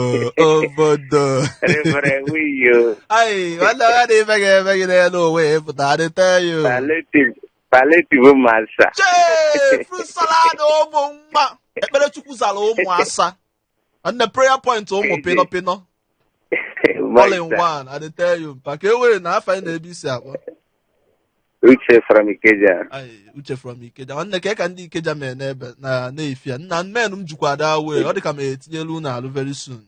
obodo rịbara nweyo ayi nwanne ya na ife ga-eme gị n'elu onwe ya pụta I dey tell you palliative palliative masa chee fruit salad ụmụ mma ekpere chukwu zara ụmụ asa nne prayer point ụmụ Eze. pịnọ pịnọ My all in sir. one i dey tell you mpa ka e were na afa gị na ebe i si akpọ Uche from Ikeja. Ai, uche from ikeja nwanne ka ka ndị ikeja mee n'ebe na n'efi a nna men m jikwa adị way ọ dị ka ma etinyelu unu alụ very soon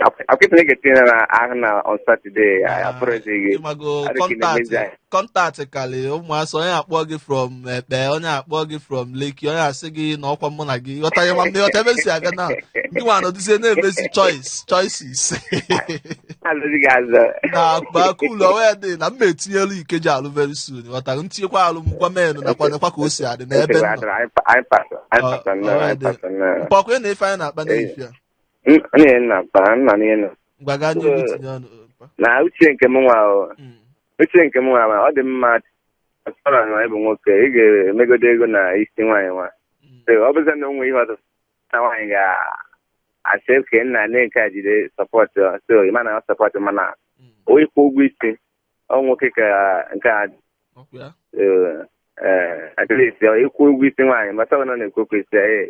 Akwụkwọ na-etinye na ahụ na on Saturday. Ah, Apụrụzighị. ịmago Adịghị na-emezi contact anyị. contact karị ụmụ asa onye akpọ gị from Epe onye akpọ gị from Lekki onye asị gị na ọkwa mụ na gị ghọta ya nwanne ghọta ebe m si abịa na ndị nwa nọdụzie na-emezi choice choices Alụzi gị azụ. na akụbakụ ụlọ way dị na m etinyelu Ikeja alụ very soon ghọtara m tinyekwa alụ m gwa menụ nekwa nekwa ka o si adị n'ebe m nọ Anyị pa- anyị pasọ, anyị pasọ nnọọ, anyị pasọ nnọọ. mpa ọkwa na ife anyị na-akpa n'efi a M- m na-enye nna mpa, m nọ n'ihe nọ. ngwa gaa n'ihu tinye ọnụ mpa. na uche nke m nwa o Mm. uche nke m nwa ma ọ dị mma ọsọrọ na ịbụ nwoke ị ga-emegodo ego na isi nwaanyị nwa Mm. So, ọ bụzi na o nwe ihe ọzọ na nwaanyị ga-asị okay nna nee nke a jide support so ị ma na ọ support mana Mm. o ịkwụ ụgwọ isi ọ nwoke ka nke a Ọkwa ya? so, eh, at least ọ ịkwụ ụgwọ isi nwaanyị mata ọ nọ na-ekwu okwu isi ya, eh,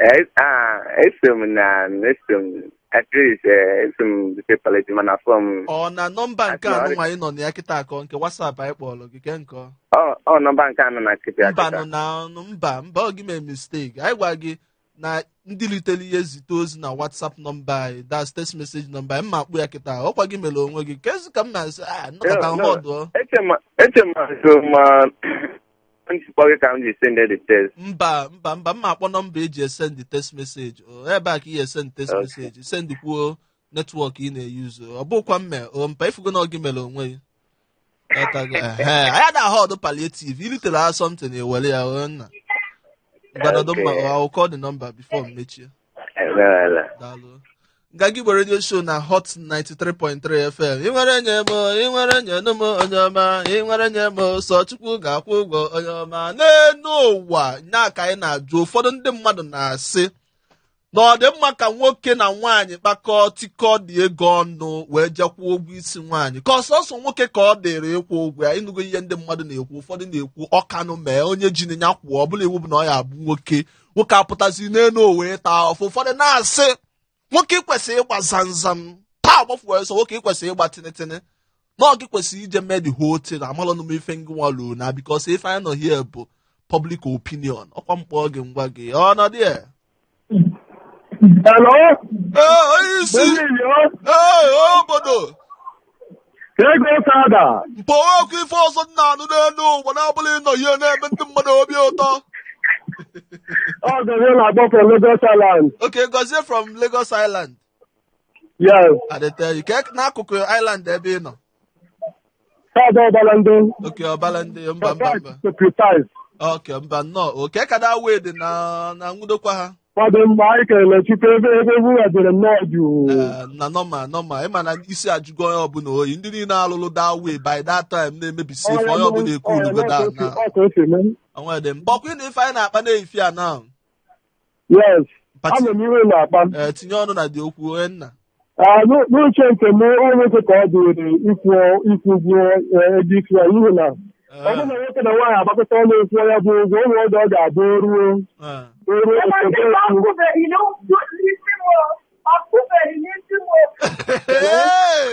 Eso m na eso m at least eso m bute palliative mana fọ m ọ na nọmba nke Atịọrị. anụnwa anyị nọ na ya kịta ka ọ nke whatsapp anyị kpọrọ gị ke nke ọ ọ nọmba nke a nọ na kịta mba akịta nụ na ọnụ mba mba ọ gị mee mistake anyị gwa gị na ndị litere ihe zite ozi na whatsapp nọmba anyị that's text message nọmba anyị m ma akpọ ya kịta ọkwa gị mere onwe gị kezi ka m na-asị a nọkọta No, no. họdụ Eche m na eche m na so ma m ji kpọọ gị ka m ji send the text mba mba mba m ma akpọ nọmba eji esend text message o ebe a ka ị ya-esend text Okay. message send kwuo network ị na-eyuzu ọ bụkwa mme o mpa ị fụgo na ọ gị mere onwe gị Ghọtago? Ehe, anyị ada ahọọdụ palliative i ritere ha something ewere ya o nna ngwa nọdụ mma Okay. I'll call the number before m mechie Emeela. daalụ na-ege Igbo radio show na hot 93.3 fm ị nwere nye m ị nwere nye nụ m onye ọma ị nwere nye m sọ chukwu ga-akwụ ụgwọ onye ọma n'elu ụwa nya ka anyị na-ajụ ụfọdụ ndị mmadụ na-asị na ọ dị mma ka nwoke na nwaanyị kpakọọ tikọ dị ego ọnụ wee je kwụọ ụgwọ isi nwaanyị ka ọ sọsọ nwoke ka ọ dịrị ịkwụ ụgwọ ya ị nụgo ihe ndị mmadụ na-ekwu ụfọdụ na-ekwu ọkanụ mee onye ji ya kwụọ ọ bụla iwu bụ na ọ ya-abụ nwoke nwoke apụtazi n'elu ụwa ịta afụfụ ụfọdụ na-asị nwoke i kwesịrị ịgba zamzam taa gbafuo ọsọ nwoke i kwesịrị ịgba tinitini na ọ gị kwesịrị ije mee the whole thing amalụ m ife ngị nwa lụrụ na because ife anyị nọ here bụ public opinion ọkwa m kpọọ gị ngwa gị ọnọdụ ya Hello? ee onye isi Baby, yo. ee obodo ego sada mkpọwa ọkụ ife ọzọ m na-anụ n'elu ụwa na-abụla ịnọ ihe na-eme ndị mmadụ obi ụtọ ọ Gozie na-akpọ from Lagos Island okay Gozie from Lagos Island yes adịteghị ka e- n'akụkụ Island ebe ị nọ side Obalende okay Obalende mba mba mba to precise okay mba nnọọ ke ka that way dị na na nwudokwa ha Ọ dị mma anyị kelere Chukwu ebe ebe ebughachiri nnọọ jụụ. Eh, na normal normal ị ma na isi ajụgo onye ọbụla oyi ndị niile alụlụ that way by that time na-emebisi ife onye ọbụla ecoolugo down Ọ ka o si mee. onwe dị mba ọkwa ị ma ife anyị na-akpa n'efifie a na Yes. Pati- Ama m ihe ị na-akpa. eh, tinye ọnụ na dị okwu onye nna Ah, n'u- n'uche nke m ọ nwoke ka ọ dịrị ịkwụ ịkwụ ụgwọ eh, ego isi ya n'ihi na ọ bụrụ na nwoke na nwaanyị agbakọta ọnụ kwụọ ya bụ ụgwọ ụmụ ọdụ ọ ga-abụ o ruo Ah, o ruo Ebe a ebe ọ kụbeghị n'isi m o, ọ kụbeghị n'isi m o. Hey!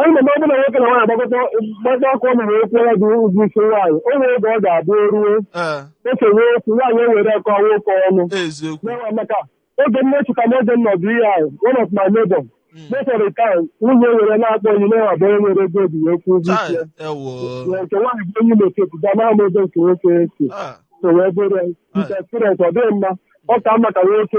onye na-eme ọbụla nwoke na nwaanyị agbakọta gbakọ aka ọnụ wee kwụọdị ụgwọ isi nwaanyị o nwere oge ọ ga-abụ o ruo ee e sewe okwu nwaanyị ewere ya kọọ nwoke ọnụ eziokwu n'ọnwa maka oge nne chụta m oge nọ bụ ihe ahụ one of my neighbor Mm. mefere ka nwunye were na-akpọ ya iyi na ọ bụ onye nwere ego o ji wee kwụọ ụgwọ isi ya Chai, ewo Ya nke nwaanyị bụ onye na-echepu ga na-ama ebe nke nwoke si Ah, so wee bụrụ ya nke experience ọ dịghị mma ọ ka mma ka nwoke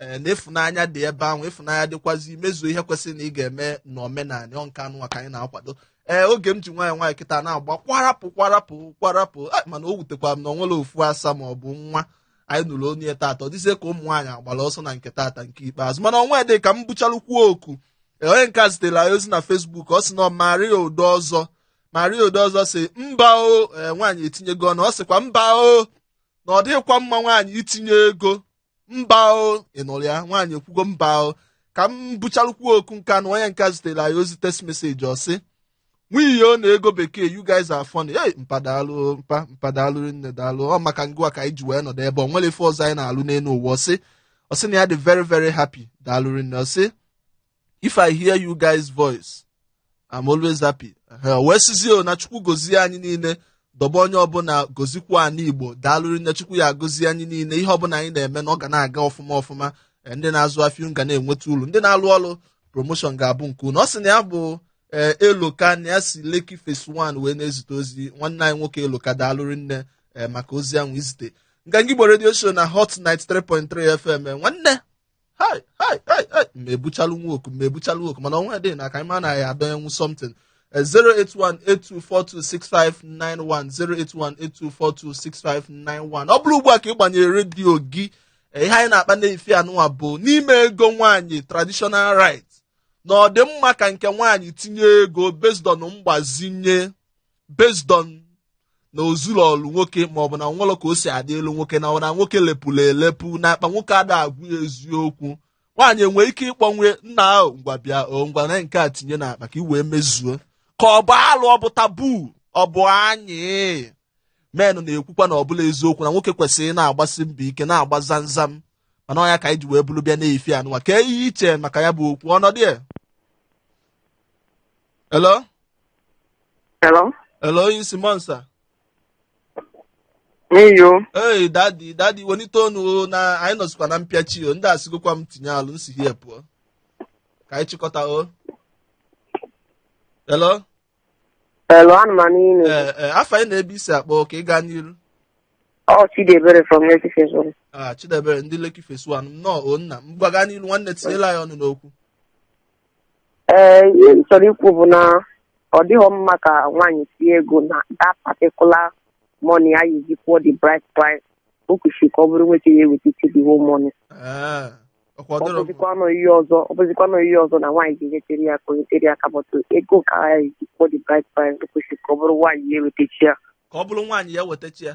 ee na ịfụnanya dị ebe ahụ ịfụnanya dịkwazi imezu ihe kwesịrị na ị ga-eme n'omenala ọ nke anụnwa ka anyị na-akwado ee oge m ji nwaanyị nwaanyị kịta na-agba kwarapụ kwarapụ kwarapụ a, mana o wutekwara m na o nwerọ ofu asa ma ọ bụ nwa anyị nụrụ onu ya tata ọ dịzie ka ụmụ nwaanyị agbara ọsọ na nke tata nke ikpeazụ mana o nwedị ka m buchalukwuo oku ee, onye nke a zitere anyị ozi na facebook ọ sị na ọ maria udo ọzọ maria udo ọzọ sị mba o ee, nwaanyị etinyego ọnụ ọ sịkwa mba o na ọ dịghịkwa mma nwaanyị itinye ego mba o ị nụrụ ya nwaanyị ekwugo mba o ka m buchalukwuo oku nka na onye nka zitere anyị ozi text message ọ sị nwunye o na ego bekee you guys are funny hey mpa dalụ mpa mpa dalụ rinne dalụ ọ maka ngịwa ka anyị ji wee nọdụ ebe o nwerọ ife ọzọ anyị na-alụ n'elu ụwa ọ sị ọ sị na ya dị very very happy dalụ rinne ọ sị if i hear you guys voice i'm always happy wee sịzie o na chukwu gọzie anyị niile dobe onye ọbụla gọzikwa ana igbo daalụ rinne chukwu ya gọzie anyị niile ihe ọbụla anyị na-eme na ọ ga na-aga ọfụma ọfụma eh, ndị na-azụ afịa ga na-enweta uru ndị na-alụ ọrụ promotion ga-abụ nke unu ọ sị na ya bụ eh, eloka na ya si lekki phase 1 wee na-ezite ozi nwanne anyị nwoke eloka daalụ rinne eh, maka ozi ahụ i zite nganga igbo radio show na hot 93.3 fm nwanne hai hai hai hai ma ebuchalụ nwa oku ma ebuchalụ oku mana ọnwa dị na ka anyị ma na ya adọ enwu something Eh, 08182426591 08182426591 ọ bụrụ ugbu a ka ị gbanyere redio gị eh, ihe anyị na-akpa n'efifie anụnwa bụ n'ime ego nwaanyị traditional rite na ọ dị mma ka nke nwaanyị tinye ego based on mgbazinye based on na o zurolu nwoke maọbụ na o nwelu ka o si adịlị nwoke na ọ na nwoke lepụrụ elepụ na akpa nwoke ada agwụ ya eziokwu nwaanyị enwee ike ịkpọ ya nna ahụ ngwa bịa o ngwa na nke a tinye n'akpa ka i wee mezuo ka ọ bụ alụ ọ bụ tabu ọ bụ anyị men na-ekwukwa na ọbụla eziokwu na nwoke kwesịrị na-agbasi mbọ ike na-agba zamzam mana ọ ya ka anyị ji wee buru bịa n'efifie anụwa kee ihe i che maka ya bụ okwu ọnọdụ ya Hello? Hello? Hello, onye isi Monsa. N'iyo. Hey, daddy, daddy, wenite onu o, na anyị nọzikwa na mpịachi o. Ndị asịgokwa m tinye alụ, m si here pụọ. Ka anyị chịkọta o. Hello? Hello, ana m anụ unu. Ee, ee, afa gị na ebe i si akpọ ka ị gaa n'iru. Ọ Chidiebere from Lekki Phase 1. Ah, Chidiebere, ndị Lekki Phase 1, nnọọ o nna. Ngwa gaa n'iru nwanne tinyelụ anyị ọnụ n'okwu. ee ihe m chọrọ ikwu bụ na ọ dịghị mma ka nwaanyị tinye ego na that particular money a ya-eji kwụọ the bride price o kwesịrị ka ọ bụrụ nwoke ya-ewetachi the whole money ọ bụzikwanụ ihe ọzọ ọ bụzikwanụ ihe ọzọ na nwaanyị ga-enyetere ya aka o nyetere ya aka but ego ka a ya-eji kwụọ the bride price o kwesịrị ka ọ bụrụ nwaanyị ya ewetachi ya ka ọ bụrụ nwaanyị ya wetachi ya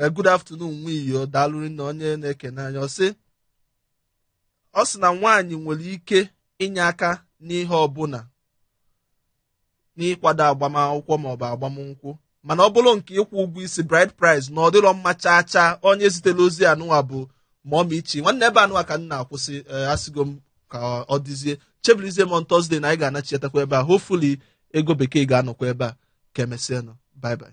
Eh, good afternoon nwa iyo daalụ rinne onye na-ekene anyị ọ sị ọ sị na nwaanyị nwere ike inye aka n'ihe ọbụla n'ịkwado agbamakwụkwọ maọbụ agbamnkwụ mana ọ bụrụ nke ịkwụ ụgwọ isi bride price na ọ dịrọ mma chaa chaa onye zitere ozi anụwa bụ mummy chi nwanne ebe anụwa ka m na-akwụsị eh, asịgo m ka ọ dịzie chebilizie m on Thursday na anyị ga-anachiatakwa ebe a hopefully ego bekee ga-anọkwa ebe a ka emesịanụ bye bye